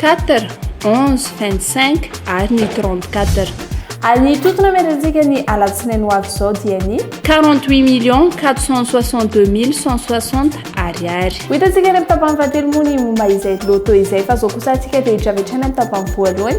Quatre, onze, vingt-cinq ary ny trente-quatre. Ary ny totona merentsika ny alatsinainy ho avy izao dia ny. Quarante-huit millions quatre cent soixante-deux mille cent soixante Ariary. Ho hitantsika any amin'ny tapany fahatelo moa ny momba izay loto izay fa izao kosa antsika dia hidravetra any amin'ny tapany voalohany.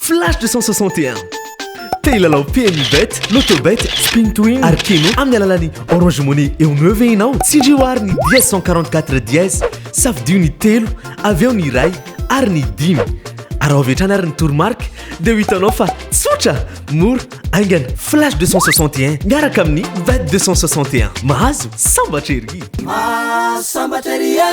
Flash 261. Te hilalao PMU Bet, Lotobet, Spin to Win ary Keno amin'ny alalan'ny Orange Money eo no eo ve ianao? Tsindrio àry ny dièse 144 dièse, safidio ny telo, avy eo ny iray ary ny dimy. Araho avy hatrany àry ny toromarika dia ho hitanao fa tsotra, mora, haingana. Flash 261 miaraka amin'ny Bet 261. Mahazo sambatra ery! Mahazo sambatra ery e!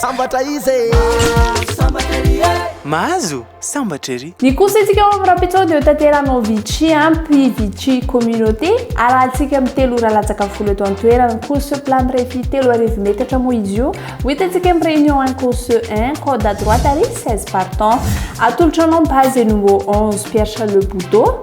Sambatra izy e! Mahazo sambatra ery e! Mahazo sambatra ery! Ny kosentsika ao amin'ny Rapetrao dia hotanterahana ao Vichy, Puy Vichy Communauté. Arahantsika amin'ny telo ora latsaka folo eto an-toerana. Course plat mirefy telo arivo metatra moa izy io. Ho hitantsika amin'ny réunion 1 course 1, corde à droite ary 16 partants. Atolotra anao ny base et numéro 11 Pierre Charles Bodo.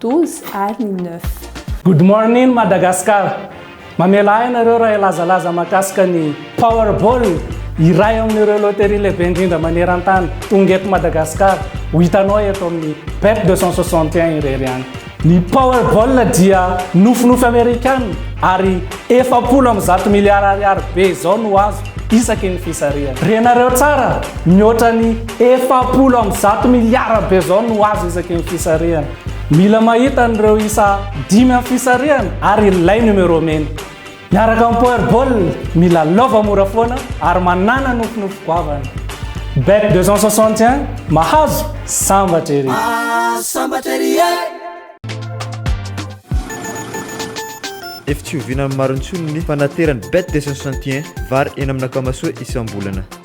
12 ary ny 9. Good morning Madagascar! Mamela ahy ianareo raha hilazalaza mahakasika ny Powerball, iray amin'ireo loterie lehibe indrindra maneran-tany, tonga eto Madagasikara, ho hitanao eto amin'ny Bet 261 irery ihany. Ny Powerball dia nofinofy Amerikana ary efapolo amby zato miliara ariary be izao no azo isaky ny fisarihana. Renareo tsara, mihoatra ny Efapolo amby zato miliara be izao no azo isaky ny fisarihana. Mila mahita an'ireo isa dimy amin'ny fisarihana ary ilay numéro mena. Miaraka amin'ny Powerball, mila lova mora foana ary manàna nofinofy goavana. Bet 261, mahazo, sambatra ery! Mahazo, sambatra ery e! Efa tsy oviana amin'ny maro intsony ny fanateran'ny Bet 261, vary eny amin'ny Akamasoa isam-bolana.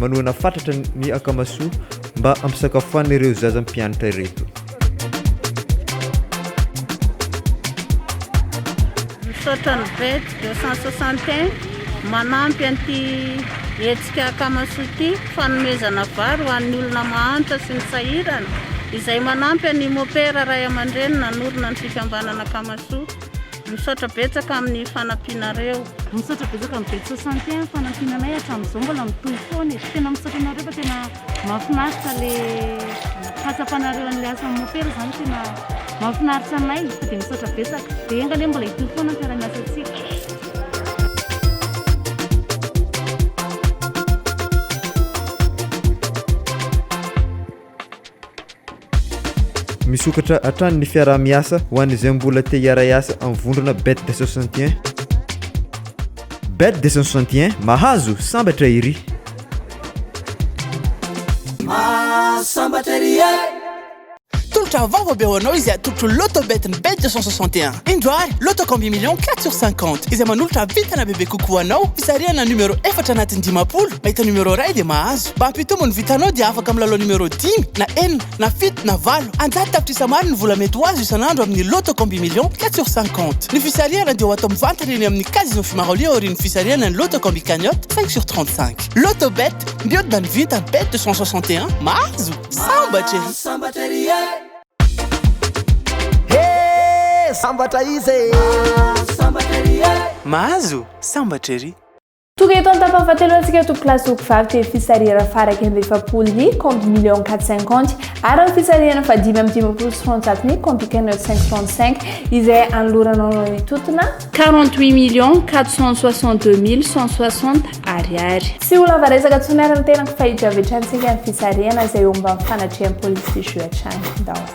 manohana fatratra ny akamasoa mba hampisakafoan'ireo zaza mpianatra ireto. Misaotra ny bet 261 manampy an'ity hetsika akamasoa ity fanomezana vary ho an'ny olona mahantra sy ny sahirana izay manampy an'i Mopera ray aman-dreny nanorina ny fikambanana akamasoa. Misaotra betsaka amin'ny fanampianareo. Misaotra betsaka amin'ny Betso Santé amin'ny fanampiana anay hatramin'izao mbola mitohy foana e. Tena misaotra anareo fa tena mahafinaritra le fahatsapanareo an'ilay asan'ny mopera izany tena mahafinaritra anay dia misaotra betsaka. Dia enga anie mbola hitohy foana ny fiaraha-miasantsika. Misokatra hatrany ny fiaraha-miasa ho an'izay mbola te hiara-hiasa amin'ny vondrona Bet 261. Bet 261 mahazo sambatra iry. Mahasambatra iry e. Tolotra vaovao be ho anao izay atolotro Lotto Bet ny Bet 261. Indro ary Lotto Combi Million 4 sur 50 izay manolotra vintana bebe kokoa ho anao fisarihana numéro efatra anatin'ny dimampolo mahita numéro iray dia mahazo. Mba hampitombo ny vintanao dia afaka milalao numéro dimy na enina na fito na valo anjato tapitrisa maro ny vola mety ho azo isan'andro amin'ny Loto Combi Million quatre sur cinquante. Ny fisarihana dia ho atao mivantana eny amin'ny Casino Fimarolio aorian'ny fisarihana ny Loto Combi Cagnotte cinq sur trente cinq. Loto Bet, mihodina ny vinta, Bet deux cent soixante et un, mahazo! Sambatra ery! Sambatra ery e! Sambatra iza e! Mahazo! Sambatra ery! Tonga eto an-tapany fahatelo antsika tompoko lahy sy ompivavy dia fisarihana faha iraika amby efapolo ny compte million quatre cinquante ary ny fisarihana faha dimy amby dimampolo sy roanjato ny compte cagnotte cinq trente cinq izay anoloranao anao ny totona quarante huit million quatre cent soixante deux mille cent soixante ariary. Tsy ho lava resaka intsony ary ny tenako fa hiditra avy hatrany isika ny fisarihana izay eo ambany fanatrehan'i Police sy Juge hatrany. Danse.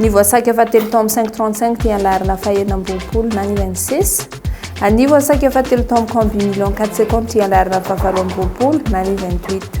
Ny voasaika fahatelo tao amin'ny 535 dia ny laharana fahenina amby roapolo na ny UNCES. Ny voasaika fahatelo tao amin'ny Camp du Million 4 secondes dia ny laharana fahavalo amby roapolo na ny 28.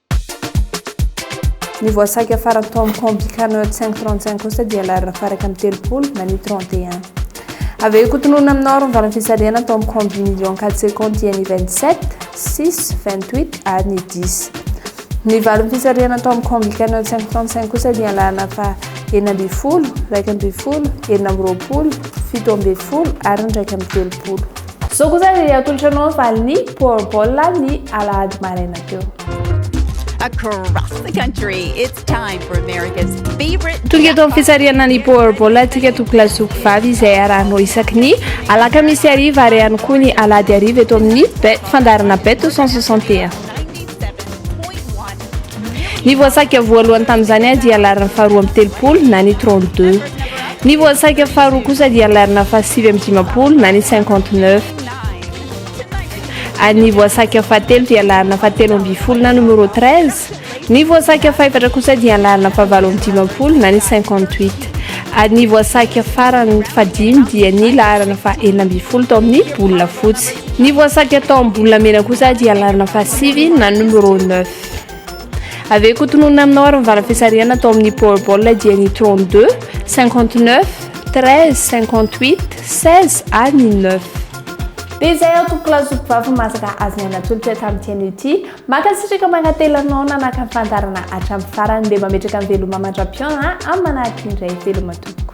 Ny voasaika farany tao amin'ny pont Bicarnot 535 kosa dia larina faraka amin'ny telopolo na ny 31. Avy eo ikotononina amin'ny norme valan'ny fisarihana tao amin'ny combi million 4 secondes dia ny 27, 6, 28 ary ny 10. Ny valan'ny fisarihana tao amin'ny pont Bicarnot 535 kosa dia larina fa enina ambin'ny folo, iraika ambin'ny folo, enina amby roapolo, fito ambin'ny folo ary ny iraika amby telopolo. Izao kosa dia atolotra anao ny valin'ny Powerball ny alahady maraina teo. across the country. It's time for America's favorite. Tonga eto amin'ny fisarihana ny Powerball atsika tokla zoky vavy izay arahanao isaky ny alakamisy hariva ary ihany koa ny alahady hariva eto amin'ny bet fandaharana bet 161. Ny voasaika voalohany tamin'izany dia laharana faharoa amby telopolo na ny 32. Ny voasaika faharoa kosa dia laharana fahasivy amby dimampolo na ny 59. Ary ny voasaika fahatelo dia laharana fahatelo amby folo na numéro 13. Ny voasaika fahefatra kosa dia laharana fahavalo amby dimampolo na ny 58. Ary ny voasaika farany fahadimy dia ny laharana fahenina amby folo tao amin'ny bola fotsy. Ny voasaiky atao amin'ny bolamena kosa dia alarina fa sivy na numéro neuf. Avy eo koa tononina aminao ary mivara fisarihana atao amin'ny powerball dia ny 32, 59, 13, 58, 16 ary ny 9. Dia izay aho tompoko lahy zoky vavy masaka azy ny anatolotra tamin'ity anio ity. Mankasitraka mankatelina anao nanaka ny fandarana hatramin'ny farany dia mametraka ny veloma mandra-pihaonana amin'ny manahaka indray veloma tompoko.